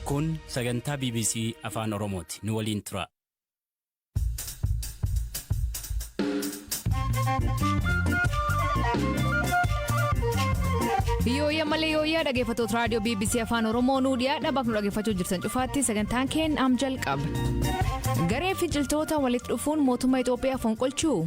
Kun sagantaa BBC Afaan Oromooti. Nu waliin tura. Yooyya malee yooyyaa dhaggeeffattoota raadiyoo BBC Afaan Oromoo nuu dhiyaadha bakka nu dhaggeeffachuu jirtan cufaatti sagantaan keenya am jalqaba. Garee finciltoota walitti dhufuun mootummaa Itoophiyaa fonqolchuu?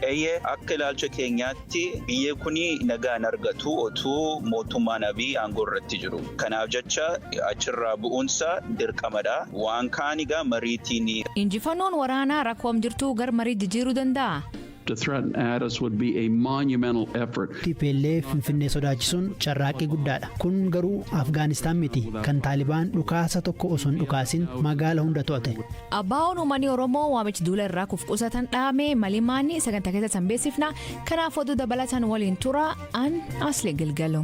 Eeyyee akka ilaalcha keenyaatti. Tti biyyee kuni nagaa hin argatu otuu mootummaan Abiy aangoo irratti jiru. Kanaaf jecha achirraa bu'uunsaa dirqamadha. Waan kaan egaa mariitii ni. Injifannoon waraanaa rakkoo am jirtuu gar marii jijiiruu danda'aa? to threaten Addis would be a monumental effort. Tplf Finfinnee sodaachisuun carraaqqii guddaadha. Kun garuu Afgaanistaan miti kan Taalibaan dhukaasa tokko osoo hin dhukaasin magaala hunda to'ate. ABOn umani oromoo waamich duula irraa kuf qusatan dhaame malimaani saganta kessa san beesifna kanaaf oduu dabalatan waliin tura an asli gilgalu.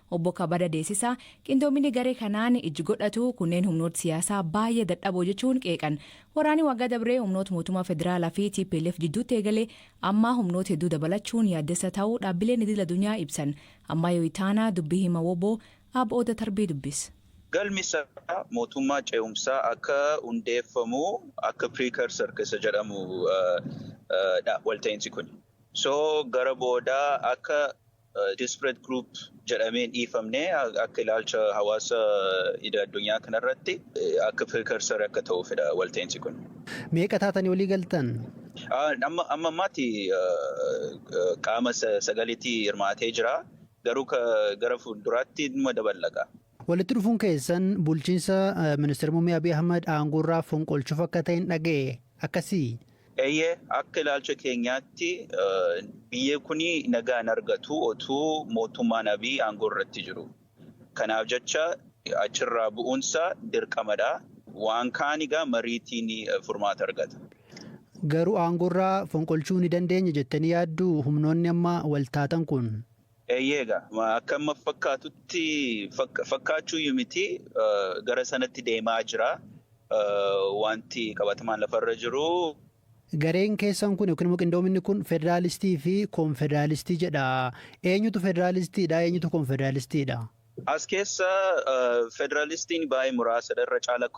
Obbo Kabada Deesisa qindoominni garee kanaan ijji godhatu kunneen humnoot siyaasaa baay'ee dadhaboo jechuun qeeqan. Waraanii waggaa dabree humnoot mootummaa federaalaa fi tplf jidduutti eegale ammaa humnoot hedduu dabalachuun yaaddessa ta'uu dhaabbileen idil adunyaa ibsan. Ammaayoo Itaanaa dubbi hima wbo Ab Oda Tarbii dubbis. Galmi isaa mootummaa ce'umsaa akka hundeeffamu akka precursor ka isa jedhamu dha walta'iinsi kuni. So gara boodaa akka Disparate group jedhamee hin dhiifamne akka ilaalcha hawaasa idil addunyaa kanarratti akka precursor akka ta'uufidha walta'insi kun. Meeqa taatanii walii galtan? Amma ammaatti qaama sagalitti hirmaatee jira. Garuu gara fuulduraatti numa daballa kaa. Walitti dhufuun keessan bulchiinsa Ministira Muummee Abiy Ahimad aangoorraa fonqolchuuf akka ta'en dhaga'e. Akkasii? Eeyyee, akka ilaalcha keenyaatti biyyi kun nagaa hin argatu otuu mootummaan Abiy aangoorratti jiruu. Kanaaf jecha achirraa bu'uunsaa dirqamadha. Waan kaan egaa mariitiin furmaata argata. Garuu aangoorraa fonqolchuu ni dandeenya jettanii yaadduu humnoonni amma waltaatan kun? Eeyyee egaa akka amma fakkaatutti fakkaachuuyyu miti gara sanatti deemaa jira wanti qabatamaan lafarra jiru. Gareen keessan kun yookiin immoo qindoominni kun federaalistii fi konfederaalistii jedha. Eenyutu federaalistiidha? Eenyutu konfederaalistiidha? As keessa federaalistiin baay'ee muraasadha. Irra caala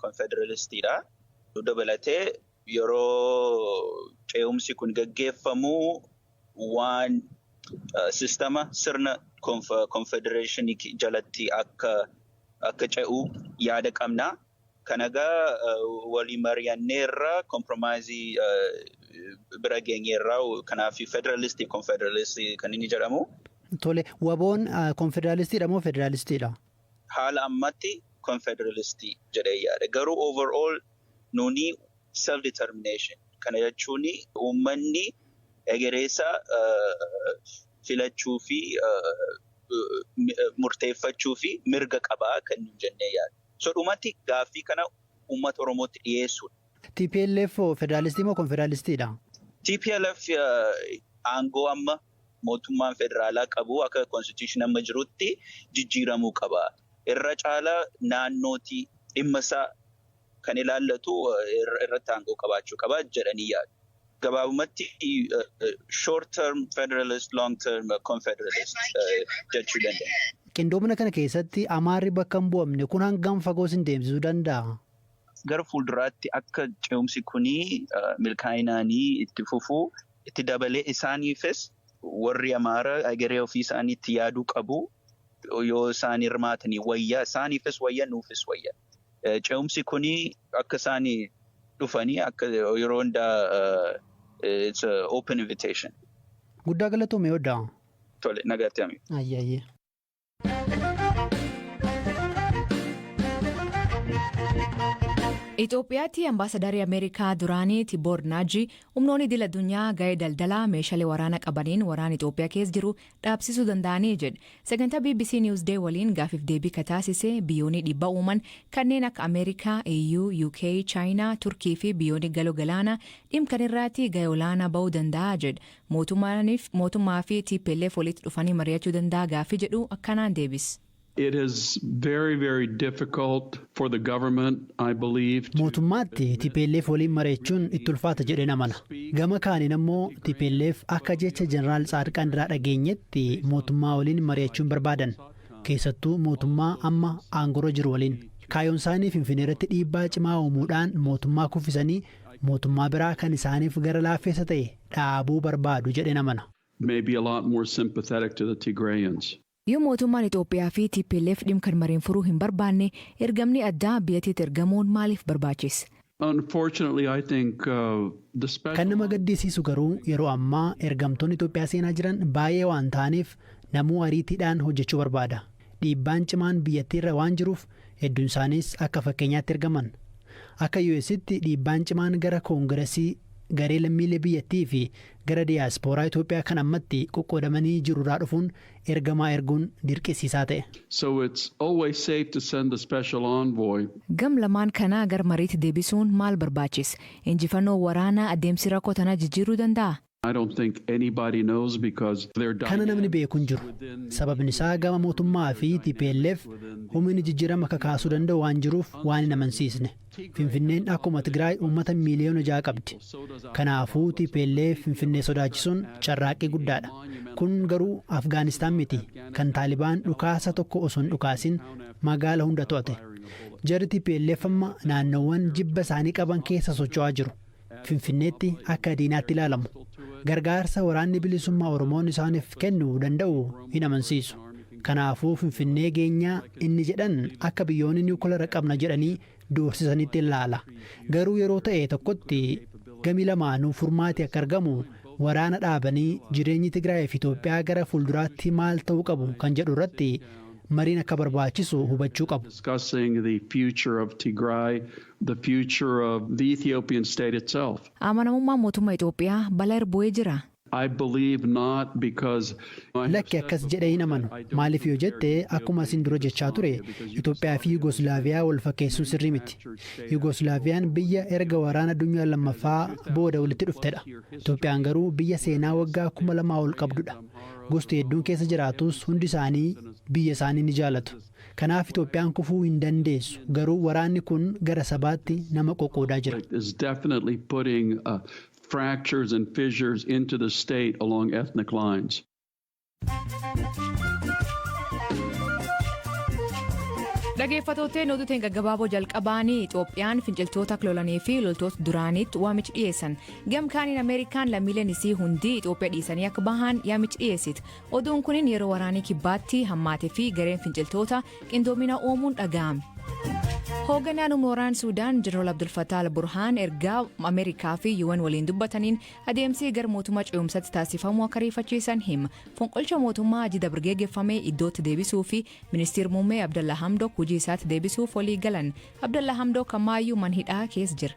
konfederaalistiidha. Nu dabalatee. Yeroo ce'umsi kun gaggeeffamu waan sistama sirna konfedereeshinii jalatti akka ce'u yaada qabna. Kan egaa walii mari'anneerra kompiromaayizii bira geenyeerra. Kanaaf federaalistii konfedereestii kan inni jedhamu. Tole waboon konfederaalistiidha moo federaalistiidha? Haala ammatti konfederealistii jedhee yaada. Garuu overall Nuuni self determination kana jechuun uummanni egereesaa filachuu fi murteeffachuuf mirga qaba kan nuun jennee yaadnu. So dhumatti gaaffii kana uummata Oromootti dhiyeessuudha. Tplf hoo federaalistii moo konfederaalistiidha? Tplf aangoo amma mootummaan federaalaa qabu akka constitution amma jirutti jijjiiramuu qaba. Irra caalaa naannooti dhimma isaa kan ilaallatu irratti aangoo qabaachuu qaba jedhanii yaadu. Gabaabumatti short term federalist, long term confederalist jechuu dandeenya. Qindoomina kana keessatti Amaarri bakka hin bu'amne kun hangam fagoo isin deemsisuu danda'a? Gara fuulduraatti akka ce'umsi kun milkaa'inaan itti fufu itti dabalee isaaniifis warri Amaara egeree ofii isaaniitti yaaduu qabu. Yoo isaan hirmaatanii wayya isaaniifis wayya nuufis wayya. Ce'umsi kun akka isaan dhufanii akka yeroo hundaa it's a open invitation. Guddaa galatoomi Odaa. Tole nagaatti hami. Ayyee ayyee. Itoophiyaatti ambaasadarii Ameerikaa duraanii Tiboor Naaji humnoonni idil addunyaa ga'ee daldalaa meeshaalee waraana qabaniin waraana Itoophiyaa keessa jiru dhaabsisuu danda'anii jedhe. Sagantaa bbc News Day waliin gaafif deebii ka taasise biyyooni dhiibba uuman kanneen akka Amerikaa, EU, UK, Chaayinaa, Turkii fi biyyooni galo galaana dhim kan irraati gahe olaanaa ba'uu danda'a jedhe. Mootumaanif mootummaa fi tplf walitti dhufanii mariyachuu danda'a gaafii jedhu akkanaan deebis. It is very very difficult for the government I believe to Mootummaatti tplf waliin mareechuun itti ulfaata jedheen amana. Gama kaaniin ammoo tplf akka jecha Jeneraal Tsaadqaan irraa dhageenyetti mootummaa waliin mari'achuu hin barbaadan. Keessattuu mootummaa amma aangorra jiru waliin. Kaayoonsaanii Finfineerratti dhiibbaa cimaa uumuudhaan mootummaa kuffisanii mootummaa biraa kan isaaniif gara laaffeessa ta'e dhaabuu barbaadu jedheen amana. may be a lot more sympathetic to the Tigrayans. Yoo mootummaan Itoophiyaa fi tplf dhim kan mareen furuu hin barbaanne ergamnii addaa biyatiit ergamuun maaliif barbaachiss? Unfortunately I think the special Kan nama gaddisiisu garuu yeroo ammaa ergamtoonni Itoophiyaa seenaa jiran baay'ee waan ta'aniif namuu ariitiidhaan hojjechuu barbaada. Dhiibbaan cimaan biyyattii irra waan jiruuf hedduun isaaniis akka fakkeenyaatti ergaman. Akka UStti dhiibbaan cimaan gara Koongiresii, garee lammiilee biyyattii fi gara diyaaspooraa Itoophiyaa kan ammatti qoqqoodamanii jiru irraa dhufuun Ergamaa erguun dirqisiisaa ta'e. So it's always safe to send a special envoy. Gam lamaan kana gar mariitti debisuun maal barbaachis? Injifanoo waraanaa adeemsi rakko tana jijjiiruu danda'a? I don't think anybody knows because their Kana namni dynamics beeku hin jiru. within the Sababni isaa EPRDF gama and the mootummaa fi Malian dynamics TPLF within the humini jijjirama kakaasuu danda'u waan jiruuf waan hin amansiisne. Finfinneen akkuma Tigraay uummata miiliyoona ja'a qabdi. Kanaafuu tplf Finfinnee sodaachisuun carraaqqii guddaadha. Kun garuu Afgaanistaan miti kan Taalibaan dhukaasa tokko osoo hin dhukaasin magaala hunda to'ate. Jarri tplf amma naannoowwan jibba isaanii qaban keessa socho'aa jiru. Finfinneetti akka diinaatti ilaalamu. Gargaarsa Waraanni Bilisummaa Oromoon isaaniif kennu danda'u hin amansiisu. Kanaafuu Finfinnee geenyaa inni jedhan akka biyyoonni niwukilara qabna jedhanii doorsisanitti ilaala. Garuu yeroo ta'e tokkotti gami lamaanuu furmaati akka argamu waraana dhaabanii jireenyi Tigraay fi Itoophiyaa gara fuulduraatti maal ta'uu qabu kan jedhu irratti mariin akka barbaachisu hubachuu qabu. the future of the Ethiopian state itself. Amanamummaan mootumma Itoophiyaa bala ir bu'ee jiraa? I believe not because I have Lakki said akkas jedhee hin before amanu. that I don't Maaliif yoo compare jette Ethiopia akkuma with isin dura jechaa ture Yugoslavia because Itoophiyaafi Yugoslavia is Yugoslaaviyaa after wal fakkeessuun sirrii miti. fractured state after Yugoslaaviyaan World War biyya II erga waraana addunyaa lammaffaa and is a booda walitti 2,000 dhuftedha. plus year history. Itoophiyaan garuu biyya There seenaa is a waggaa big kuma lamaa ol Tigray and qabdudha. Amhara Gosti hedduun Oromo keessa and jiraatus hundi Ethnic isaanii Groups in a biyya isaanii ni jaalatu. Kanaaf Itoophiyaan kufuu hin dandeessu. Garuu waraanni kun gara sabaatti nama qoqqoodaa jira. Conflict is definitely putting fractures and fissures into the state along ethnic lines. Dhageeffatoottee oduu teen gaggabaaboo jalqabaanii Itoophiyaan finciltoota lolanii fi loltoota duraaniitti waamichi dhiyeessan. Gamkaaniin Ameerikaan lammiileen isii hundi Itoophiyaa dhiisanii akka bahan yaamichi dhiyeessite. Oduun kunin yeroo waraanii kibbaatti hammaate fi gareen finciltoota qindoomina uumuun dhaga'ame. Hoogganaan Umooraan Suudaan Jeneraal Abdulfataal Burhaan ergaa Ameerikaa fi UN waliin dubbataniin adeemsii gara mootummaa ce'umsatti taasifamu akka riifachiisan hima. Fonqolcha mootummaa ajida birgeegeffame iddootti deebisuu fi ministeer muummee Abdalla Hamdok hojii isaatti deebisuuf walii galan. Abdalla Hamdok ammaayyuu manhidhaa keessa jira.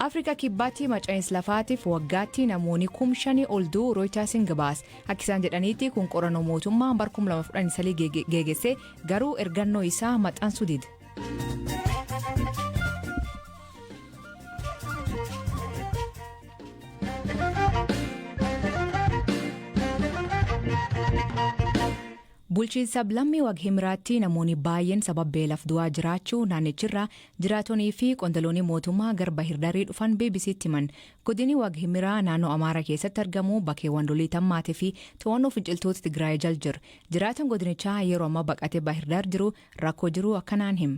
afrika kibbaatti maca'iinsi lafaatiif waggaatti namoonni kum shanii ol du'u rooyitaasiin gabaase akka isaan jedhaniitti kun qorannoo mootummaa bar 2013 geegesse garuu ergannoo isaa maxxansuu dide. Bulchiinsa sablammii Waghimraatti namooni baay'een sabab beelaf du'aa jiraachuu naannichirraa jiraatonii fi qondalooni mootummaa gar Bahirdarii dhufan BBC'tti himan. Godini Waghimiraa naannoo Amaara keessatti argamu bakeewwan lolii tammaate fi to'annoo finciltoota Tigraayi jal jir. Jiraatan godinichaa yeroo amma baqate Bahirdar jiru rakkoo jiru akkanaan him.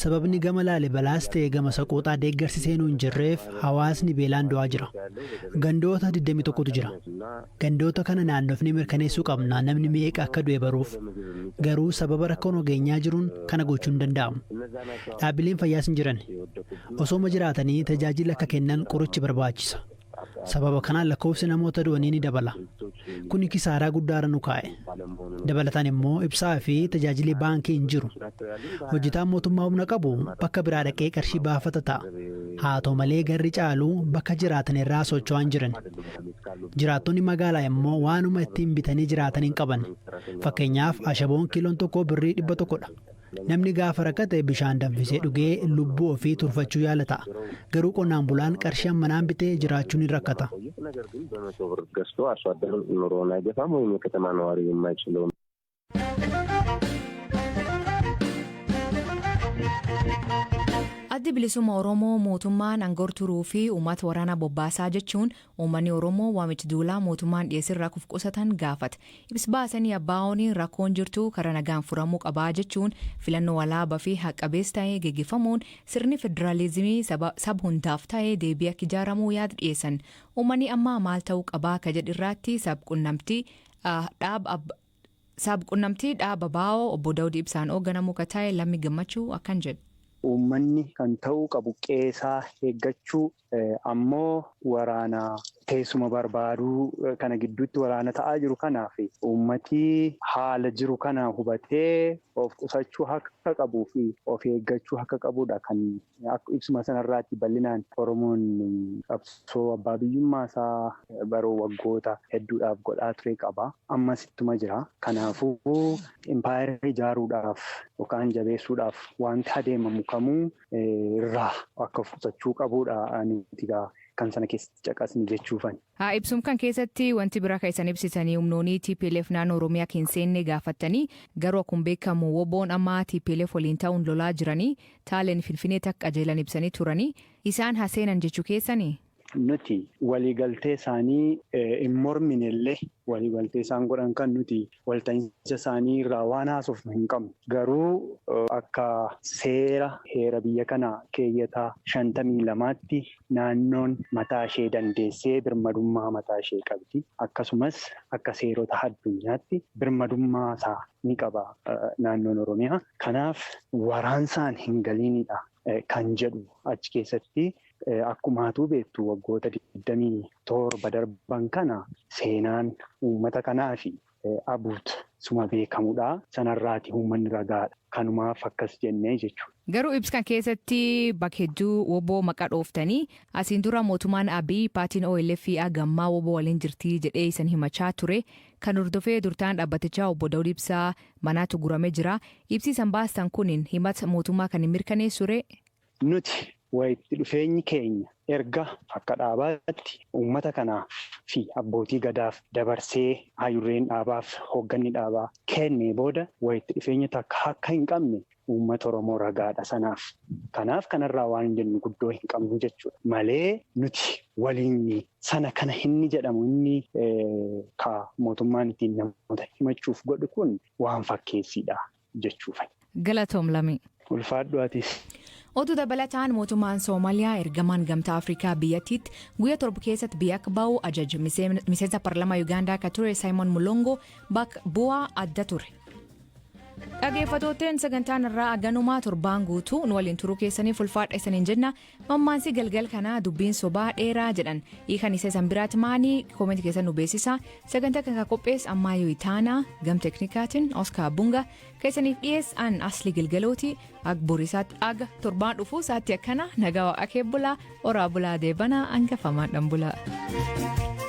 Sababni gama Laalibalaas ta'e gama Saqooxaa deeggarsi seenuu hin jirreef hawaasni beelaan du'aa jira. Gandoota 21tu jira. Gandoota kana naannofnee mirkaneessuu qabna namni meeqa akka du'e baruuf. Garuu sababa rakkoon ogeenyaa jiruun kana gochuu hin danda'amu. Dhaabbileen fayyaas hin jirani. Osooma jiraatanii tajaajila akka kennan qorichi barbaachisa. Sababa kanaan lakkoofsi namoota du'anii ni dabala. Kuni kisaaraa guddaa irra nu kaa'e. Dabalataan immoo ibsaa fi tajaajili baankii hin jiru. Hojjetaan mootummaa humna qabu bakka biraa dhaqee qarshii baafata ta'a. Haa ta'u malee garri caalu bakka jiraatan irraa socho'aa hin jiran. Jiraattonni magaalaa immoo waanuma ittiin bitanii jiraatan hin qaban. Fakkeenyaaf ashaboon kiiloon tokko birrii dhibba tokkodha. Namni gaafa rakkate bishaan danfisee dhugee lubbuu ofii turfachuu yaala ta'a. Garuu qonnaan bulaan qarshii ammanaan bitee jiraachuun hin rakkata. Addi Bilisumma Oromoo mootummaan angor turuu fi uumat waraana bobbaasaa jechuun Uummanni Oromoo waamicha duulaa mootummaan dhiyeesserraa kuf qusatan gaafata. Ibs baasanii ABOn rakkoon jirtu karaa nagaan furamuu qaba jechuun filannoo walaaba fi haq qabeessa ta'e geggeeffamuun sirni federaalizimii saba sab hundaaf ta'e deebi'ee akka ijaaramu yaada dhiyeessan. Uummanni amma maal ta'uu qaba akka jedh irraatti sab qunnamtii dhaab ab sab qunnamtii dhaab ABO obbo Dawud Ibsaan oogganamu ka ta'e Lammi Gammachuu akkan jedh. Uummanni kan ta'uu qabu qe'eesaa eeggachuu, ammoo waraana teessuma barbaadu kana gidduutti waraana ta'aa jiru kanaaf uummati haala jiru kana hubatee of qusachuu akka qabuu fi of eeggachuu akka qabudha kan ibsuma sanarraatti bal'inaan Oromoon qabsoo abbaa biyyummaa isaa baroo waggoota hedduudhaaf godhaa ture qaba. Ammas ittuma jira. Kanaafuu impaayera ijaaruudhaaf yookaan jabeessuudhaaf waanti adeemamu kamuu irraa akka of qusachuu qabuudha nuti gaa kan sana keessatti caqasni jechuufani. Haa ibsum kan keessatti wanti bira ka isan ibsitanii umnoonii tplf naannoo Oromiyaa ka hin seenne gaafattanii garuu akkum beekamu woboon amma tplf waliin ta'uun lolaa jiranii taaleen finfinee takka qajeelan ibsanii turanii isaan ha seenan jechu keessanii? Nuti waliigaltee isaanii hin mormine illee waliigaltee isaan godhan kan nuti walta'iinsa isaanii irraa waan haasofnu hin qabnu. Garuu akka seera heera biyya kanaa keeyyata 52tti naannoon mataa ishee dandeessee birmadummaa mataa ishee qabdi. Akkasumas akka seerota addunyaatti birmadummaa isaa ni qaba naannoon Oromiyaa. Kanaaf waraansaan hin galiinidha kan jedhu achi keessatti Akkuma atuu beektu waggoota 27 darban kana seenaan uummata kanaafi Abuut suma beekamudha. Sanarraati uummanni ragaadha. Kanumaaf akkas jenne jechuudha. Garuu ibs kan keessatti bak hedduu wbo maqa dhooftanii. Asiin dura mootumaan Abiy paatiin OLF ag ammaa wbo waliin jirtii jedhee isan himachaa ture. Kan hordofee durtaan dhabbatichaa obbo Dawud Ibsaa manaatu gurame jira. Ibsii isan baastan kunin himat mootummaa kan hin mirkaneessu ree? Nuti walitti dhufeenyi keenya erga akka dhaabaatti uummata kanaaf fi abbootii gadaaf dabarsee haayudureen dhaabaaf hoogganni dhaabaa kennee booda walitti dhufeenya takka akka hin qabne uummata Oromoo ragaadha sanaaf. Kanaaf kanarraa waan jennu guddoo hin qabnu jechuudha. Malee nuti waliin sana kana inni jedhamu inni ka mootummaan ittiin namoota himachuuf godhu kun waan fakkeessiidha. jechuufan. Galatoom Lamii. Ulfaadhu atis. Oduu dabalataan mootummaan Soomaliyaa ergamaan gamtaa Afrikaa biyyattiitti guyya torba keessatti biyya akka ba'u ajaje miseensa parlamaa Yugaandaa akka ture Saayimoon Mulongo bak bu'aa adda ture. Dhageeffatooteen sagantaan irraa aganumaa torbaan guutuu nu waliin turuu keessaniif ulfaadha isaniin jenna Mammaansi galgal kanaa dubbiin sobaa dheeraa jedhan hiikan isa isan biraatti maani koomenti keessa nu beeksisa sagantaa kan qophees ammaa yoo itaanaa gam teknikaatiin oskaar bunga keessaniif dhiyees an asli gilgalooti ag borisaatti aga torbaan dhufuu saatti akkana nagaa waaqaa keebbulaa oraa bulaa deebanaa angafamaadhaan bulaa.